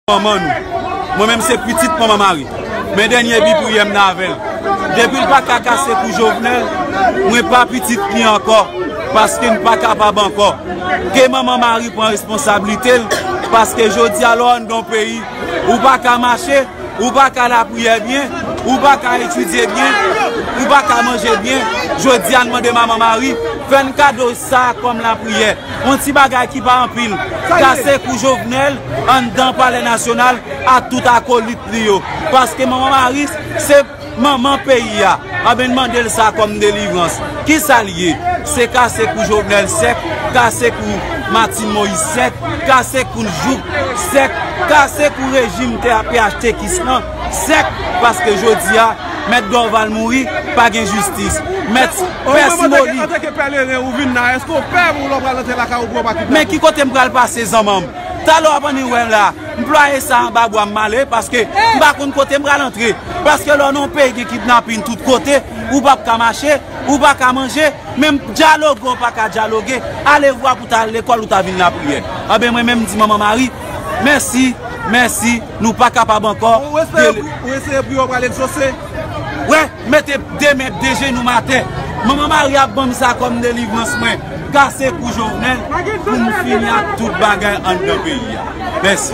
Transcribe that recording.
Manman nou. Mwen menm se pitit manman Mari. Men dènye bi priyè m nan avè l. Depi l paka kase kou Jovenel, mwen pa pitit li ankò paske m pa kapab ankò. Ke manman Mari pran responsablite l paske jodi a lè w anndan yon peyi, ou pa ka mache, ou pa ka lapriyè byen, ou pa ka etidye byen, ou pa ka manje byen. Jodi a n mande manman Mari fè n kado sa kòm lapriyè. Yon ti bagay ki pa anpil, kase kou Jovenel anndan palè nasyonal ak tout akolit li yo. Paske manman Maryse se manman peyi a. Anben n mande l sa kòm delivrans. Kisa l ye? Se kase kou Jovenel sèk, kase kou Martine Moïse sèk, kase kou n jouk sèk, kase kou rejim TAPHTKis lan. Sèk paske jodi a mèt Dorval mouri pa gen jistis. Mèt pè Simoni. Antake pèleren ou vin la eske ou pè pou lè ou pral antre lakay ou pou yo pa kidnape ou. Men ki kote m pral pase zanman m. Talè w ap annik wè m la. M plwaye sa anba bwa m male paske m pa konn kote m pral antre. Paske lè w nan yon peyi gen kidnapin tout kote ou pap ka mache, ou pa ka manje, menm dyaloge ou pa ka dyaloge, alevwa pou ta al lekòl ou ta vin lapriyè. Anben mwen menm m di manman Mari mèsi, mèsi. Nou pa kapab ankò Ou eseye pou yo pral egzose Wè mete de men de jenou atè Manman Maria banm sa kòm delivrans mwen Kase kou Jovenel pou m fini ak tout bagay anndan peyi a Mèsi.